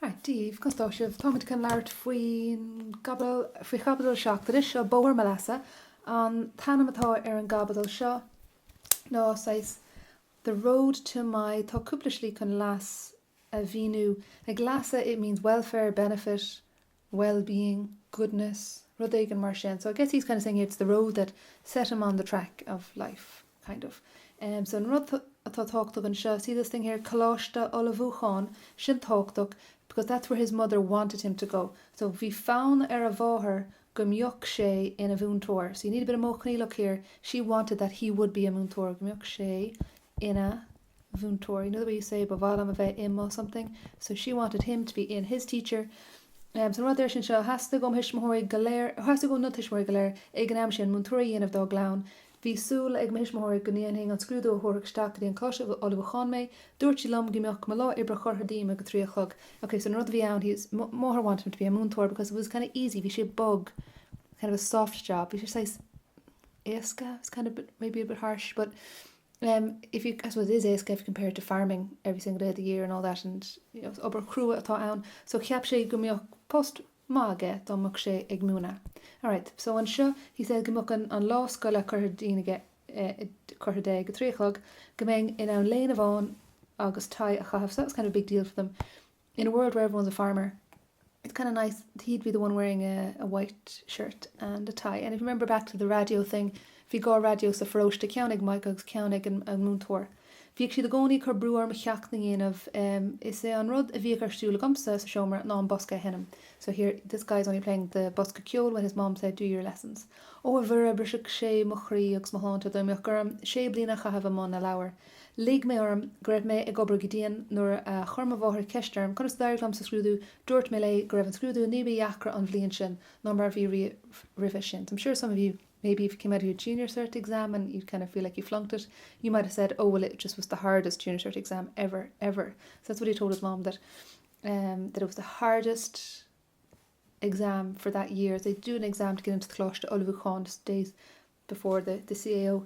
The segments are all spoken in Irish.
Right, Dia daoibh, conas tá sibh? Táimid chun labhairt faoi chaibidil seacht anois, so Bóthar mo Leasa. An t-ainm atá ar an gcaibidil seo ná saghas The Road to my, tá cúpla slí chun leas a mhíniú, like leasa it means welfare, benefit, wellbeing, goodness, rud éigin mar sin. So I guess he's kind of saying it's the road that set him on the track of life, kind of. Um, so an rud atá tábhachtach anseo, see this thing here, Coláiste Ullmhúcháin, sin tábhachtach, because that's where his mother wanted him to go. So bhí fonn ar a mháthair go mbeadh sé ina mhúinteoir. So you need a bit of modh coinníollach here. She wanted that he would be a múinteoir, go mbeadh sé ina mhúinteoir you know the way you say ba mhaith liom a bheith i mo something so she wanted him to be in his teacher um so an rud air sin seo theastaigh ó thuismitheoirí go léir theastaigh ó na tuismitheoirí go léir ag an am sin múinteoirí a dhéanamh dá gclann bhí súil ag mo thuismitheoirí go ndéanfainn an scrúdú a thabharfadh isteach go dtí an coláiste ullmhúcháin mé dúirt sí liom go mbeadh mo lá oibre curtha díom ag a trí a chlog ok so an rud a bhí ann his máthair wanted him to be a múinteoir because it was kind of easy bhí sé bog kind of a soft job bhí sé saghas éasca it was kind of maybe a bit harsh but if you, I suppose it is éasca if you compare it to farming every single day of the year and all that and you know, obair chrua atá ann so cheap sé go mbeadh post maith aige dá mbeadh sé ag múineadh. Alright, so anseo he said go mbeadh an, an lá scoile curtha díom ag eh, curtha de ag a trí a chlog go mbeinn in ann léine bhán agus tie a chaitheamh so that was kind of a big deal for them. In a world where everyone's a farmer it's kind of nice that he'd be the one wearing a a white shirt and a tie and if you remember back to the radio thing bhí dhá raidió sa pharóiste ceann ag Mike agus ceann ag an an múinteoir. Bhíodh siad i gcónaí ag cur brú orm mo cheachtanna a dhéanamh em is é an rud a bhíodh ar siúl agamsa sa seomra ná an bosca a sheinm so here this guy's only playing the bosca ceoil when his mom said do your lessons. Ó a Mhuire bhrisfeadh sé mo chroí agus mo shláinte dá mbeadh orm sé bliana a chaitheamh i mbun na leabhar. Lig mé orm go raibh mé ag obair go dian nuair a chuir mo mháthair ceist orm conas d'éirigh liom sa scrúdú. Dúirt mé léi go raibh an scrúdú ní ba dheacra an bhliain sin ná mar a bhí riamh roimhe sin. I'm sure some of you, maybe if you came out of your Junior Cert Exam and you'd kind of feel like you flunked it, you might have said, oh well it just was the hardest Junior Cert Exam ever, ever. So that's what I told his mom, that um, that it was the hardest exam for that year. They do an exam to get into the Coláiste Ullmhúcháin just days before the, the CAO.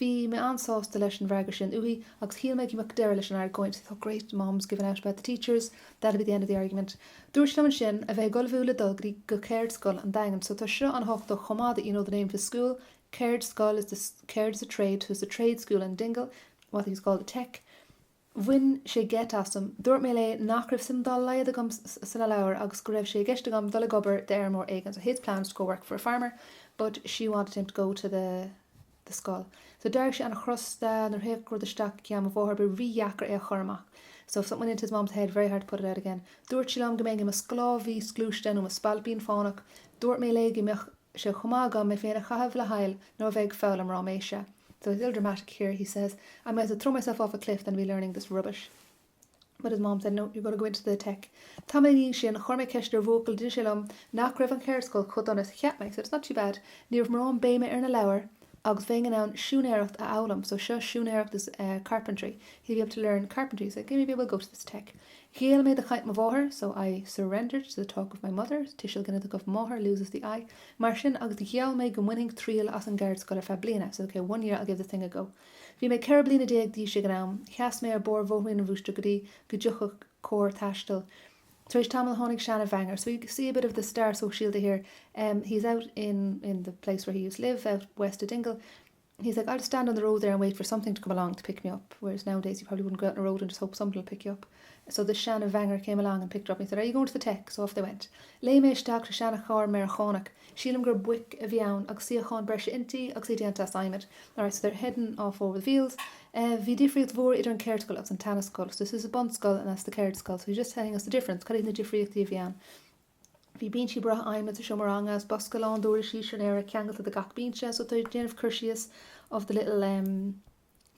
Bhí mé an-sásta leis an bhfreagra sin uaithi agus shíl mé go mbeadh deireadh leis an argóint So great, mom's giving out about the teachers, that'll be the end of the argument. Dúirt sí liom ansin a bheith ag ullmhú le dul go dtí go Ceardscoil an Daingin so tá seo an-thábhachtach chomh maith that you know the name of his school, Ceardscoil so ceard is a trade so it's the trade school in Dingle, what he's called the Tech. Bhain sé geit asam. Dúirt mé léi nach raibh suim dá laghad agam sna leabhair agus go raibh sé i gceist agam dul ag obair d'fheirmeoir éigin, so his plan was to go work for a farmer but she wanted him to go to the the scoil. So d'éirigh sé an-chrosta nuair théadh rud isteach i gceann mo mháthar, ba rídheacair é a chur amach. So if something went into his mum's head, very hard to put it out again. Dúirt sí liom go mbeinn i mo sclábhaí sclúiste nó mo spailpín fánach. Dúirt mé léi go mbeadh. sé chomh maith agam mé féin a chaitheamh le haill nó a bheith ag foghlaim ráiméise So he's a little dramatic here, he says I might as well throw myself off a cliff than be learning this rubbish But his mom said, no, you've got to go into the Tech. Tamall ina dhiaidh sin, chuir mé ceist ar bhuachaill, d'inis sé liom nach raibh an cheardscoil chomh dona is a cheap mé. He said, it's not too bad. Ní raibh mórán béime ar na leabhair agus bheinn in ann siúinéireacht a fhoghlaim. So seo siúinéireacht is uh, carpentry. He'd be able to learn carpentry. He said, okay, maybe we'll go to this Tech. Ghéill mé do chaint mo mháthar, so I surrendered to the talk of my mother, tuiseal ginideach of máthair loses the I, mar sin, agus gheall mé go mbainfinn triail as an gceardscoil ar feadh bliana, I said okay, one year I'll give the thing a go. Bhí mé ceithre bliana déag d'aois ag an am. Sheas mé ar barr bhóithrín an Mhúscraí go dtí go dtiocfadh carr taistil. Tar éis tamaill tháinig seana-bhaingear, so you can see a bit of the stair sóisialta here, em, he's out in, in the place where he used live, out west of Dingle. He's like, I'll just stand on the road there and wait for something to come along to pick me up, whereas nowadays you probably wouldn't go out on a road and just hope somebody will pick you up. So this Shannon Vanger came along and picked her up and he said, are you going to the tech? So off they went. Lé mé isteach sa seanna chár Meiriceánach. Sílim gur buic a bhí ann agus suíocháin breise inti agus í déanta as adhmad. All right, so they're heading off over the fields. Uh, bhí difríocht mhór idir an céirdscoil agus an tanascoil. So this is a bunscoil and that's the céirdscoil. So he's just telling us the difference. Cad iad na difríochtaí a bhí ann? Bhí bínsí breátha adhmaid sa seomra ranga agus bosca lán d'uirlisí siúinéara ceangailte de gach bínse so tá déanamh cur síos of the little, em,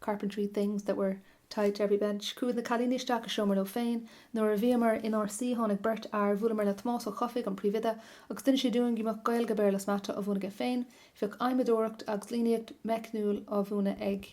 carpentry things that were tied to every bench. Cuireadh na cailíní isteach i seomra leo féin. Nuair a bhíomar inár suí tháinig beirt fhear, bhuaileamar le Tomás Ó Cofaigh, an príomhoide, agus d'inis sé dúinn go mbeadh Gaeilge, Béarla is Mata á mhúineadh aige féin. Bheadh adhmadóireacht agus líníocht meicniúil á mhúineadh ag.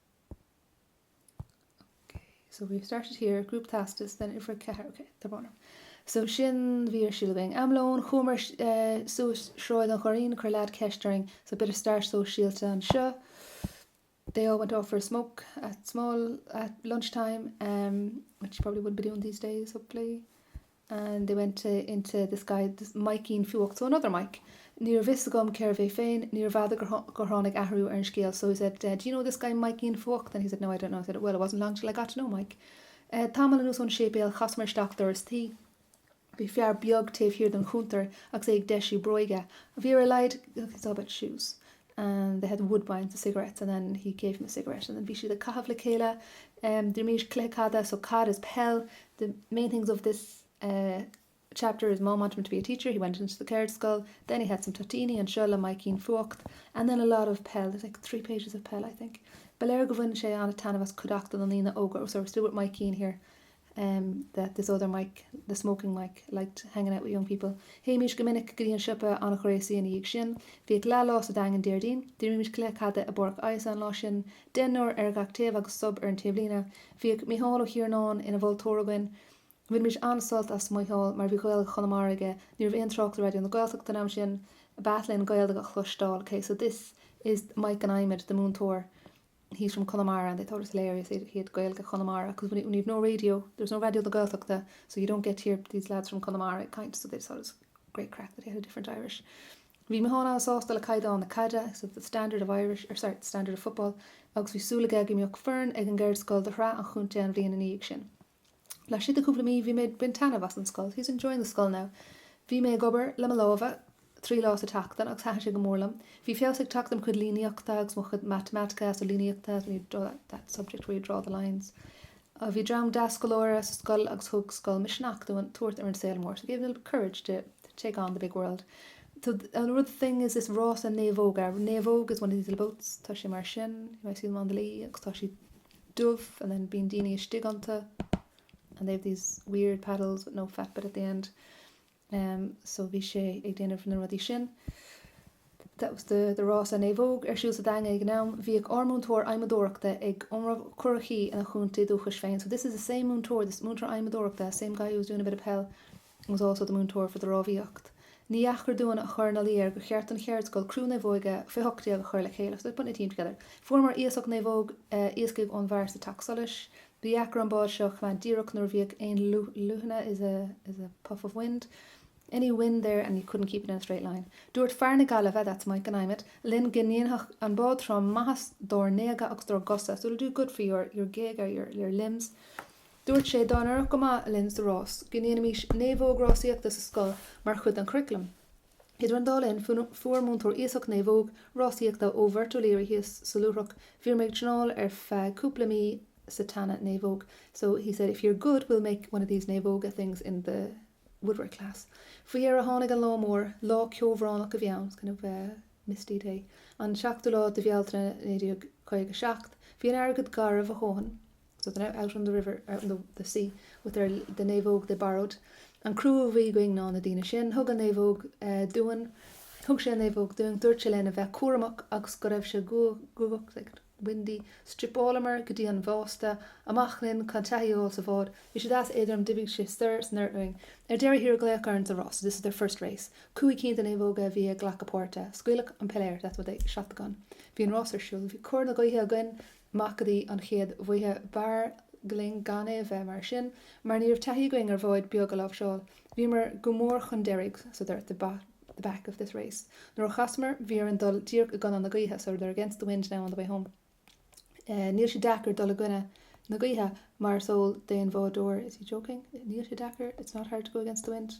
So we have started here, group teastas, then infra ceathair, ok, tá bóna. So sin, bhí ar síle bhéing am lóin, chuamar eh, suas sráid an Churraoin, chuir leaid ceist orainn, so bit of start sóisialta anseo. They all went off for a smoke at small, at lunchtime, em, which you probably wouldn't be doing these days, hopefully. and they went into this guy Maidhcín Fuacht, so another Maidhc Níorbh fhios agam cérbh é féin, níorbh fhada gur tháinig athrú ar an scéal, so he said, do you know this guy Maidhcín Fuacht? and he said, no, I don't know, he said, well, it wasn't long till I got to know Maidhc. Tamall anuas ón séipéal chasamar isteach doras tí. Bhí fear beag taobh thiar den chuntar agus é ag deisiú bróige. Bhí ar a laghad, it's all about shoes, and they had Woodbines the cigarettes and then he gave them a cigarette and then bhí siad ag caitheamh le chéile um deir Maois cluiche cada so cod is peil the main things of this uh chapter is mom wanted him to be a teacher he went into the Caird School then he had some toitíní anseo le Maidhcín Fuacht and then a lot of peil there's like three pages of peil I think ba léir go bhfuin sé an-taitneamh as cuid achta na ndaoine óga oh so we're still with Maidhcín here um that this other Mike, the smoking Mike, liked hanging out with young people. Théimís go minic go dtí an siopa an ghréasaí ina dhiaidh sin. Bhíodh leathlá sa Daingean Déardaoin. D'imrímis cluiche caide i bPáirc an Ághasaigh an lá sin, deichniúr ar gach taobh agus sub ar an taobhlíne. Bhíodh Mícheál Ó hIarnáin ina mholtóir againn. Bhainimís an-sult as Mícheál mar bhí Gaeilge Chonamara aige. Ní raibh aon trácht ar Raidió na Gaeltachta an am sin. B'ait linn Gaeilge a chloisteáil. Ok, so this is Mike an adhmaid, the múinteoir. He's from Conamara and they thought it was hilarious that he had Gaeilge Chonamara cos when you've no radio, there was no Radio na Gaeltachta so you don't get to hear these lads from Conamara kind so they just thought it was great crack that he had a different Irish. Bhí Micheál Ó sásta le caighdeán na caide, he said the standard of Irish, or sorry, the standard of football, agus bhí súil aige go mbeadh foireann ag an gceird scoil do shraith an chontae an bhliain i ndiaidh sin. Laistigh de chúpla mí bhí mé ag baint taitneamh as an scoil, he's enjoying the school now. Bhí mé ag obair le mo lámha trí lá sa tseachtain agus thaitin sé go mór liom. Bhí feabhas ag teacht ar mo chuid líníochta agus mo chuid matamaitice so líníocht is when you draw that, that subject where you draw the lines. Bhí dream deas scoláire sa scoil agus thug scoil misneach dúinn tabhairt ar an saol mór, so gave me a little bit of courage to take on the big world. So another thing is this rásanna naomhóg, a naomhóg is one of these little boats, tá sé mar sin, you might see them on the Lee agus tá siad dubh and then bíonn daoine istigh iontu and they have these weird paddles with no fat bit at the end um so bhí sé ag déanamh na rudaí sin. That was the the rásanna naomhóg ar siúl sa Daingean ag an am. Bhíodh ár múinteoir adhmadóireachta ag iomramh curachaí ina chontae dúchais féin. So this is the same múinteoir, this múinteoir adhmadóireachta, same guy who was doing a bit of peil. was also the múinteoir for the rámhaíocht. Níor dheacair dúinn a chur ina luí air gur cheart don cheardscoil criú naomhóige fé hocht déag a chur le chéile, so they put a team together. Fuaireamar iasacht naomhóg iascaigh ón bhfear sa teach solais. Ba dheacair an bád seo a choimeád díreach nuair a bhíodh aon leoithne is a is a puff of wind, any wind there and you couldn't keep it in a straight line. Dúirt fear na Gaillimhe, that's Mike an Adhmaid, linn go ndéanfadh an bád trom maitheas dár ngéaga agus dár gcosa, so it'll do good for your your géaga, your your limbs. Dúirt sé dá n-éireodh go maith linn sa rás go ndéanfaimis naomhóg rásaíochta sa scoil mar chuid den churaclam. Idir an dá linn fuair múinteoir iasacht naomhóg rásaíochta ó Mhurt O'Leary thíos sa Leitriúch. Bhíomar ag traenáil ar feadh cúpla mí sa tseana naomhóg so he said if you're good we'll make one of these naomhóga things in the woodwork class. Faoi dheireadh tháinig an lá mór. Lá ceobhránach a bhí ann, it's kind of a misty day, an 7ú lá de Bhealtaine 1957. Bhí an fharraige garbh a dhóthain. so they're now out on the river, out on the the sea, with their the naomhóg they borrowed, an crú a bhí againn ná na daoine sin, thug an naomhóg dúinn, thug sé an naomhóg dúinn, dúirt sé linn a bheith cúramach agus go raibh sé guagach, like windy, stripeálamar go dtí an bhásta, amach linn, chun taithí a fháil sa bhád, bhí sí deas éadrom, d'imigh sí soir san oiread uainn. Ar deireadh thiar glaodh orainn sa rás, so this is their first race, cúig cinn de naomhóga a bhí ag glacadh páirte, scaoileadh an piléar, that's what they shot the gun, bhí an rás ar siúl, bhí cóir na gaoithe againn, amach go dtí an chéad bhaoi. B'fhearr linn gan é a bheith mar sin mar ní raibh taithí againn ar bhád beag a láimhseáil. Bhíomar go mór chun deiridh so they're at the back of this race. Nuair a chasamar bhí orainn dul díreach i gcoinne na gaoithe, so they're against the wind now on the way home. Níl sé deacair dul i gcoinne na gaoithe mar is eol d'aon bhádóir, is he joking? Níl sé deacair, it's not hard to go against the wind.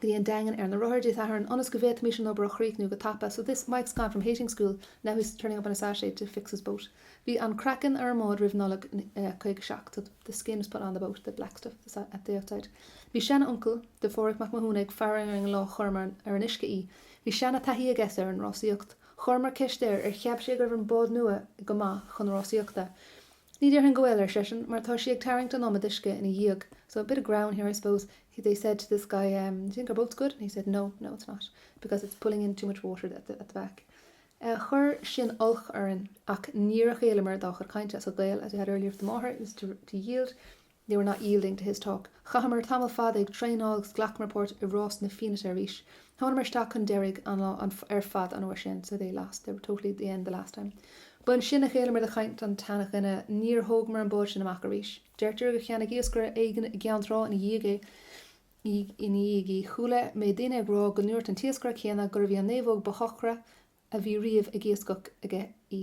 go dtí an Daingean ar na rothair Dé Sathairn ionas go bhféadfaimis an obair a chríochnú go tapa so this Mike's gone from hating school, now he's turning up on a Saturday to fix his boat Bhí an craiceann ar an mbád roimh Nollaig 57 so the skin was put on the boat, the black stuff at the outside Bhí seanuncail de Pháraic Mac Mathúna ag faire orainn an lá chuireamar ar an uisce í Bhí seanataithí aige sin ar an rásaíocht Chuireamar ceist air ar cheap sé go raibh an bád nua go maith chun rásaíochta. Ní déarfainn go bhfuil, ar seisean, mar tá sí ag tarraingt an iomad uisce ina dhiaidh, so a bit of greann here I suppose, they said to this guy, do you think our boat's good? And he said, no, no it's not, because it's pulling in too much water at the back. Chuir sin olc orainn ach níor ghéilleamar dá chuid cainte, so géill, as we had earlier with the máthair, is to yield. They were not yielding to his talk. Chaitheamar tamall fada ag traenáil agus ghlacamar páirt i rás na Fianaite arís. Tháinamar isteach chun deiridh an lá ar fad an uair sin, so they lost, they were totally at the end the last time. Ba ansin a ghéilleamar do chaint an tseana-dhuine. Níor thógamar an bád sin amach arís. Deirtear gur cheannaigh iascaire éigin i gCeann Trá ina dhiaidh é, í, ina dhiaidh í. Chuala mé daoine ag rá go ndúirt an t-iascaire céanna gurbh í an naomhóg ba shocra a bhí riamh ag iascach aige í.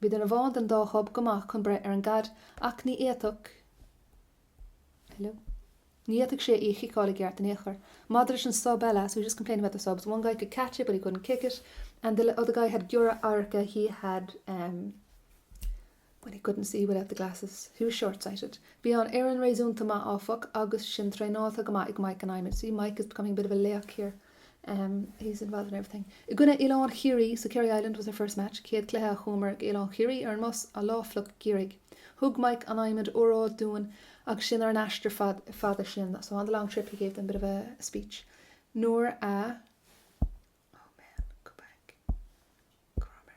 Bhí duine amháin den dá shub go maith chun breith ar an gcaid ach ní fhéadfadh, hello, ní fhéadfadh sé í a chiceáil i gceart in aon chor. Maidir leis an sub eile, so he just complained about the subs, one guy could catch it but he couldn't kick it and the other guy had giorra radhairce he had um well he couldn't see without the glasses, he was short-sighted. Bhí an fhoireann réasúnta maith áfach agus sinn traenáilte go maith ag Mike an Adhmaid, see Mike is becoming a bit of a laoch here, He's involved in everything. I gcoinne Oileán Chiarraí so Kerry Island was their first match, céad cluiche a chuamar go Oileán Chiarraí ar an mbus an lá fliuch geimhridh. Thug Mike an Adhmaid óráid dúinn agus sinn ar an aistear fada sin, so on the long trip he gave them a bit of a speech. Nuair a, oh man, go back, go raibh mé.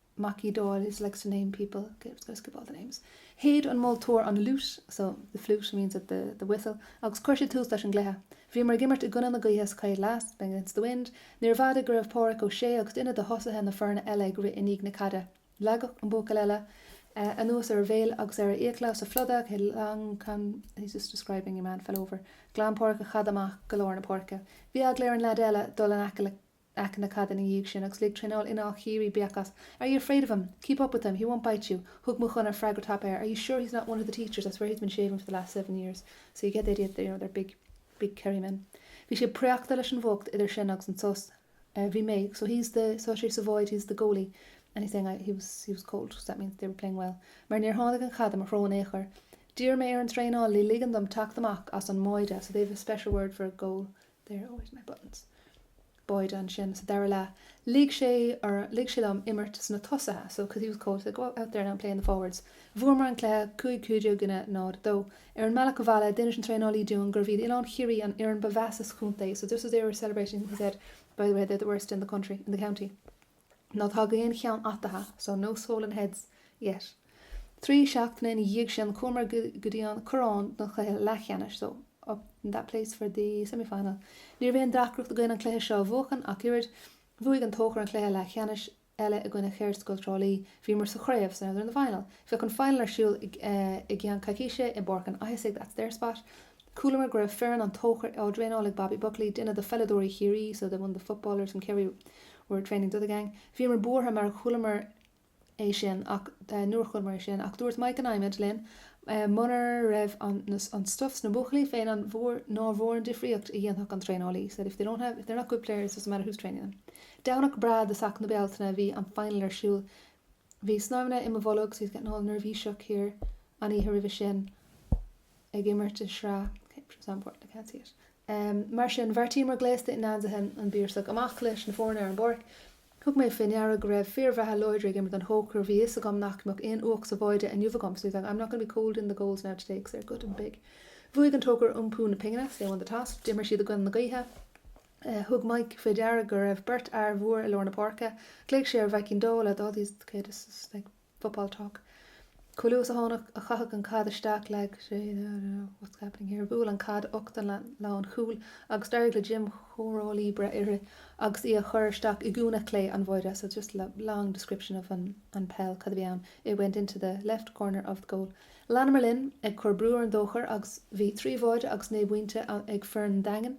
Mac Uí Dáil is likes to name people ok just gonna skip all the names shéid an moltóir an fhliúit so the flute means that the the whistle agus chuir sé tús leis an gcluiche. Bhíomar ag imirt i gcoinne na gaoithe sa chéad leath playing against the wind níorbh fhada go raibh Páraic Ó Sé agus duine de thosaithe na foirne eile ag rith i ndiaidh na caide. Leagadh an buachaill eile anuas ar a bhéal agus ar a fhiacla sa phluda ok he's just describing a man fell over ghlan Páraic an chaid amach go lár na páirce. Bhí eagla ar an leaid eile dul in aice le. aice na caide ina dhiaidh sin agus lig traenáil Ineall Chiarraí béic as, 'Are you afraid of him? Keep up with him, he won't bite you'. Thug Maigh Chonaire freagra tapa air, 'Are you sure he's not one of the teachers, I swear he's been shaving for the last seven years. So you get the idea that they're, you know, they're big, big Kerrymen. Bhí sé préachta leis an bhfuacht idir sin agus an sos. Bhí mé, 'So he's the, so she's the void, he's the goalie. And he's saying, I, he was, he was cold, so that means they were playing well. Mar níor tháinig an chaid i mo threo in aon chor. D'iarr mé ar an traenálaí ligean dom teacht amach as an mbáide, 'So they've a special word for a goal, There are always my buttons. Báide ansin sa dara leath lig sé orm, lig sé liom imirt sna tosaithe so cos he was cold said go out there now and play in the forwards. Bhuamar an cluiche cúig cúig déag i gcoinne náid, dó. Ar an mbealach abhaile d'inis an traenálaí dúinn gurbh iad Oileán Chiarraí an fhoireann ba mheasa sa chontae so just as they were celebrating he said, by the way they're the worst in the country, in the county. Ná tagadh aon cheann ataithe so no swollen heads yet. Trí seachtaine ina dhiaidh sin chuamar go dtí an Corrán don chluiche leathcheannais so up in that place for the semi final. Ní raibh aon deacracht againn an cluiche seo a bhuachan ach oiread. Bhuaigh An Tóchar an cluiche leathcheannais eile i gcoinne Cheardscoil Trá Lí. Bhíomar sa chraobh so now they're in the final. Bheadh an final ar siúl i gceann coicíse i bPáirc an Ághasaigh that's their spot. Chualamar go raibh foireann an Tóchar á dtraenáil ag Bobby Buckley, duine de pheileadóirí Chiarraí so one of the footballers from Kerry were training the other gang. Bhíomar buartha mar chualamar é sin ach, nuair a chualamar é sin, ach dúirt Mike an Adhmaid linn muna raibh an, an stuif sna buachaillí féin an mhór, nár mhór an difríocht a dhéanfadh an traenálaí said if they don't have, if they're not good players it doesn't matter who's training them. Domhnach breá i dtosach na Bealtaine bhí an final ar siúl. Bhí snaidhmeanna i mo bholg so he's getting all neirbhíseach here an oíche roimhe sin. ag imirt i sraith Okay, which was on board, I can't see it. Mar sin, bheartaíomar gléasta in ainmhithe an Bhíorsaigh amach leis na foirne ar an bpáirc. Thug mé fé ndeara go raibh fir bhreátha láidre ag imirt don Tóchar. Bhí a fhios agam nach mbeadh aon fhuacht sa bháide inniu agam so I thought, I'm not going to be cold in the goals now today, 'cause they're good and big. Bhuaigh An Tóchar iompú na pingine, so they won the toss. D'imir siad i gcoinne na gaoithe. Thug Mike fé deara go raibh beirt fhear mhór i lár na páirce. Ghlaoigh sé ar Mhaidhcín Dó le All these Okay, this is like. football talk. Chomh luath is a tháinig a chaitheadh an caid isteach leag sé What's happening here? Bhuail an caid ucht an lán chúil agus d'éirigh le Jim Choráilí breith uirthi agus í a chur isteach i gcúinne chlé an bháide so just a long description of an an peil cad a bhí ann it went into the left corner of the goal. Leanamar linn ag cur brú ar an dTóchar agus bhí trí bháide agus naoi bpointe ag foireann an Daingin.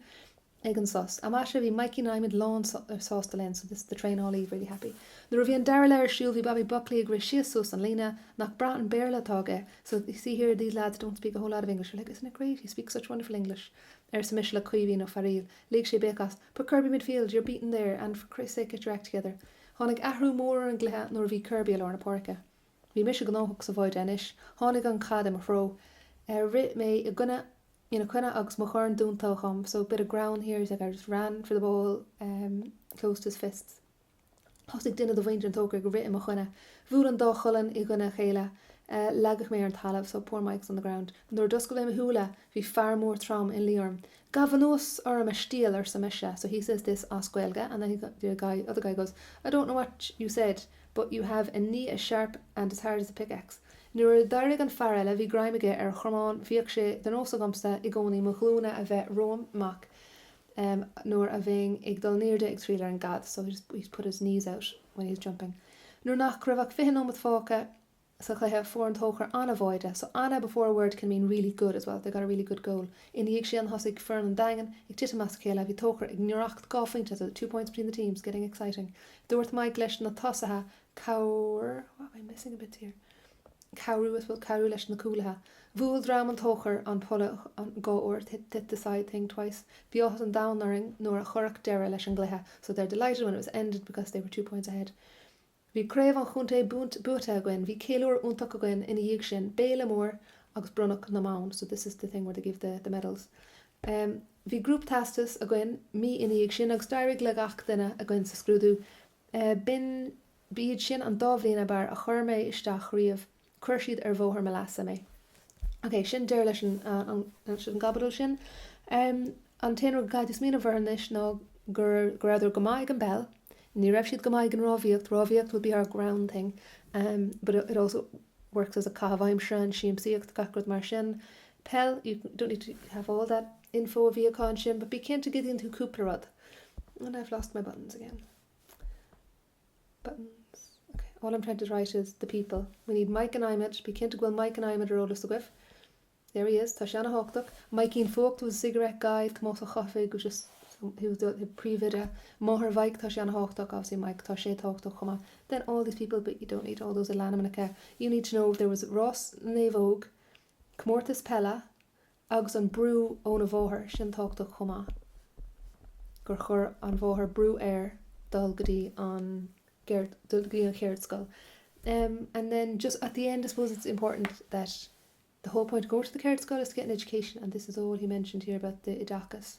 Ag an sos ambasa bhí Mikey Naimed lán sásta linn so this is the traenálaí really happy. Nuair a bhí an dara leith ar siúl bhí Bobby Buckley ag rith síos suas an líne. Nach breá an Béarla atá aige so you see here these lads don't speak a whole lot of English they're like isn't it great he speaks such wonderful English arsa mise le Caoimhín Ó Fearaíl. Lig sé béic as Put Kirby midfield, you're beaten there and for Christ sake get your act together. Tháinig athrú mór ar an gcluiche nuair a bhí Kirby i lár na páirce. Bhí mise gnóthach sa bháide anois. Tháinig an chaid i mo threo. Rith mé i gcoinne ina coinne agus mo dhorn dúnta agam, so, bit of ground here, he's like, I just ran for the ball, closed his fists. Thosaigh duine de mhuintir an Tóchair ag rith i mo choinne. Bhuail an dá cholainn i gcoinne a chéile. Leagadh mé ar an talamh, so, poor Mike's on the ground. Nuair a d'oscail mé mo shúile, Bhí fear mór trom ina luí orm. Gabh anuas orm a stail arsa mise, so he says this as Gaeilge and then the guy, other guy goes, I don't know what you said but you have a knee as sharp and as hard as a pickaxe. Nuair a d'éirigh an fear eile bhí greim aige ar a chromán, bhíodh sé de nós agamsa i gcónaí mo ghlúine a bheith romham amach nuair a bheinn ag dul in airde ag triall ar an gcaid so he put his knees out when he was jumping. Nuair nach raibh ach 20 nóimeat fágtha, sa chluiche fuair an Tóchar ana-bháide, so ana before a word can mean really good as well, they got a really good goal. Ina dhiaidh sin thosaigh foireann an Daingin ag titim as a chéile, bhí Tóchar ag ngiorracht dhá phointe so two points between the teams getting exciting. Dúirt Maidhc leis na tosaithe cabhr what am I missing a bit here? cabhrú as well cabhrú leis na cúlaithe. Bhuail dream an Tóchar an polla dhá uair, they hit the side thing twice. Bhí áthas an domhain orainn nuair a cuireadh deireadh leis an gcluiche so they're delighted when it was ended because they were two points ahead. Bhí craobh an chontae buaite againn, bhí ceiliúr iontach againn ina dhiaidh sin, béile mór agus bronnadh na mbonn, so this is the thing where they give the medals. Bhí group teastas againn mí ina dhiaidh sin agus d'éirigh le gach duine againn sa scrúdú. B'in, ba iad sin an dá bhliain ab fhearr a chuir mé isteach riamh. Chuir siad ar bhóthar mo leasa mé. Ok, sin deireadh leis an gcaibidil sin. An t-aon rud gur féidir smaoineamh air anois ná gur go rabhadar go maith ag an bpeil. Ní raibh siad go maith ag an rámhaíocht, rámhaíocht would be our greann thing but it also works as a caitheamh aimsire and siamsaíocht, gach rud mar sin. Peil, you don't need to have all that info a bhí acu ansin but bí cinnte go dtuigeann tú cúpla rud. And I've lost my buttons again. buttons ok all I'm trying to write is the people we need Mike an Adhmaid bí cinnte go bhfuil Mike an Adhmaid ar eolas agaibh there he is tá sé ana-thábhachtach Maidhcín Fuacht was a cigarette guy Tomás Ó Chofaigh was just he was the príomhoide máthair Mhaidhc tá sé ana-thábhachtach obviously Mike tá sé tábhachtach chomh maith then all these people but you don't need all those ainmneacha you need to know there was rás naomhóg comórtas peile agus an brú óna mháthair sin tábhachtach chomh maith gur chuir an mháthair brú air dul go dtí an cheardscoil and then just at the end I suppose it's important that the whole point of going to the ceardscoil is to get an education and this is all he mentioned here about the oideachas